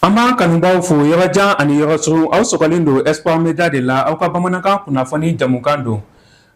An b'an kanubaw fo yɔrɔ jan ani yɔrɔ surun aw sɔgɔlen don Espoir Media de la aw ka bamanankan kunnafoni jamukan don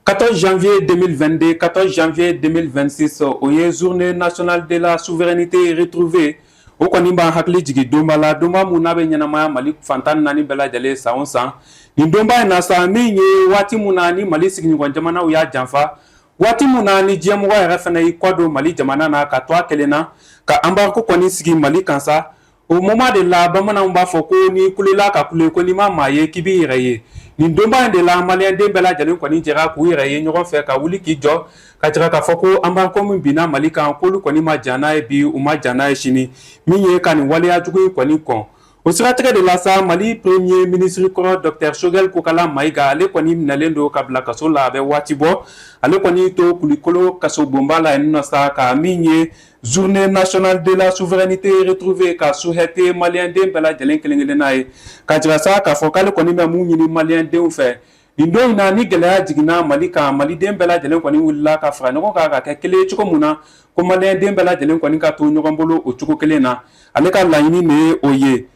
14 janvier 2022 14 janvier 2026 o ye journée nationale de la souveraineté retrouvée o kɔni b'an hakili jigin donba la donba mun n'a bɛ ɲɛnamaya mali fan tan naani bɛɛ lajɛlen san o san nin donba in na sa min ye waati min na ni mali sigiɲɔgɔn jamanaw y'a janfa waati min na ni diɲɛmɔgɔ yɛrɛ fana y'i kɔdon mali jamana na ka to a kelen na ka embargo kɔni sigi mali kan sa o moment de la bamananw b'a fɔ ko n'i kulela ka kule ko n'i ma maa ye k'i b'i yɛrɛ ye nin donba in de la maliyɛnden bɛɛ lajɛlen kɔni jɛra k'u yɛrɛ ye ɲɔgɔn fɛ ka wuli k'i jɔ ka jira k'a fɔ ko embargo min binna mali kan k'olu kɔni ma jɛn n'a ye bi u ma jɛn n'a ye sini min ye ka nin waleya jugu in kɔni kɔn o siratigɛ de la sa mali premier minisiri kɔrɔ dɔktɛr Choguel Kokalla Maïga ale kɔni minɛlen don ka bila kaso la a bɛ waati bɔ ale kɔni to kulikolo kaso bonba la yen nɔ sa ka min ye journée nationale de la souveraineté retrouvée ka souhaiter maliyɛnden bɛɛ lajɛlen kelen kelenna ye ka jira sa k'a fɔ k'ale kɔni bɛ mun ɲini maliyɛndenw fɛ nin don in na ni gɛlɛya jiginna mali kan maliden bɛɛ lajɛlen kɔni wulila ka fara ɲɔgɔn kan ka kɛ kelen ye cogo min na ko maliyɛnden bɛɛ lajɛlen kɔni ka to ɲɔgɔn bolo o cogo kelen na ale ka laɲini de ye o ye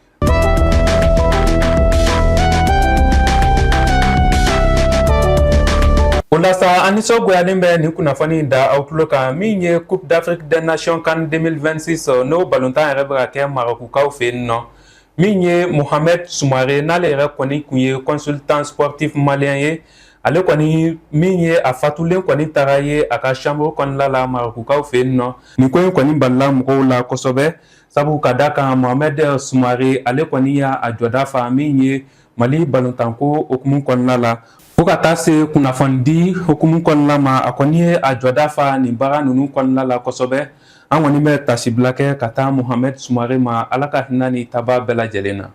o la sa an nisɔngoyalen bɛ nin kunnafoni in da aw tulo kan min ye coupe d'afrique des nations CAN 2026 n'o balontan yɛrɛ bɛ ka kɛ marɔkukaw fɛ yen nɔ min ye mohamed Soumaré n'ale yɛrɛ kɔni kun ye consultant sportif malien ye ale kɔni min ye a fatulen kɔni taara ye a ka chambre kɔnɔna la marɔkukaw fɛ yen nɔ nin ko in kɔni balila mɔgɔw la kosɛbɛ sabu ka da kan mohamed Soumaré ale kɔni y'a jɔda fa min ye Mali balontanko hukumu kɔnɔna la fo ka taa se kunnafonidi hukumu kɔnɔna ma a kɔni ye a jɔda fa nin baara ninnu kɔnɔna la kosɛbɛ an kɔni bɛ tasibila kɛ ka taa Mohamed Soumaré ma ala ka hinɛ ni taabaa bɛɛ lajɛlen na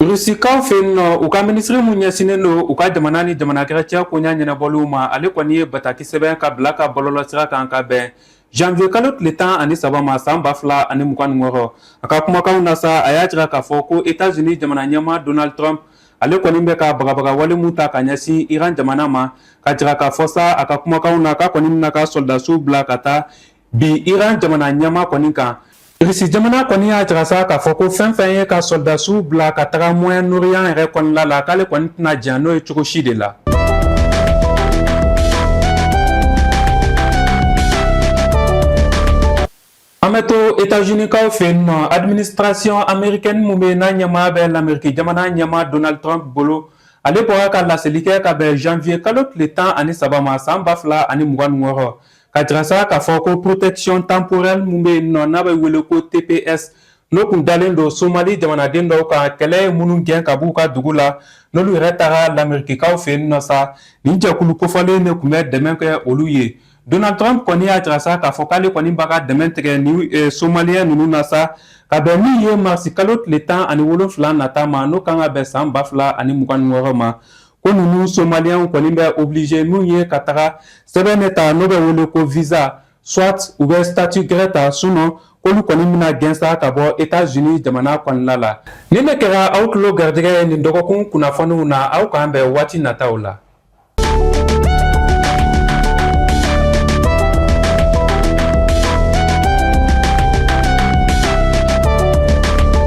Rusikaw fɛ yen nɔ u ka minisiri min ɲɛsinnen don u ka jamana ni jamana wɛrɛ cɛ koɲa ɲɛnabɔliw ma ale kɔni ye bataki sɛbɛn ka bila ka bɔlɔlɔsira kan ka bɛn janvier kalo tile tan ani saba ma san ba fila ani mugan wɔɔrɔ a ka kumakanw na sa a y'a jira k'a fɔ ko États-Unis jamana ɲɛmaa Donald Trump ale kɔni bɛ ka bagabaga wale mun ta ka ɲɛsin iran jamana ma ka jira k'a fɔ sa a ka kumakanw na k'a kɔni bɛn'a ka sɔrɔdasiw bila ka taa bi iran jamana ɲɛmaa kɔni kan irisi jamana kɔni y'a jira sa k'a fɔ ko fɛn fɛn ye ka sɔrɔdasiw bila ka taga moyen-orient yɛrɛ kɔnɔna la k'ale kɔni tɛna jɛn n'o ye cogo si de la an bɛ to etazunikaw fɛ yen nɔ administration américaine min bɛ yen n'a ɲɛmaa bɛ lameriki jamana ɲɛmaa donald trump bolo ale bɔra ka laseli kɛ ka bɛn janvier kalo tile tan ani saba ma san ba fila ani mugan ni wɔɔrɔ Ka jira sa k'a fɔ ko protection temporaire min bɛ yen nɔ n'a bɛ wele ko tps n'o kun dalen don somali jamanaden dɔw kan kɛlɛ ye minnu gɛn ka b'u ka dugu la n'olu yɛrɛ taga lamerikikaw fɛ yen nɔ sa nin jɛkulu kofɔlen de kun bɛ dɛmɛ kɛ olu ye donald trump kɔni y'a jira sa k'a fɔ k'ale kɔni b'a ka dɛmɛ tigɛ nin somaliens ninnu na sa ka bɛn min ye marisi kalo tile tan ani wolonfila nata ma n'o kan ka bɛn san ba fila ani mugan ni wɔɔrɔ ma ko ninnu somaliens kɔni bɛ obligé n'u ye ka taga sɛbɛn de ta n'o bɛ wele ko visa soit u bɛ statut gɛrɛ ta sinon k'olu kɔni bɛna gɛn sa ka bɔ Etats-Unis jamana kɔnɔna la nin de kɛra aw tulo garijɛgɛ ye nin dɔgɔkun kunnafoniw na aw k'an bɛn waati nataw la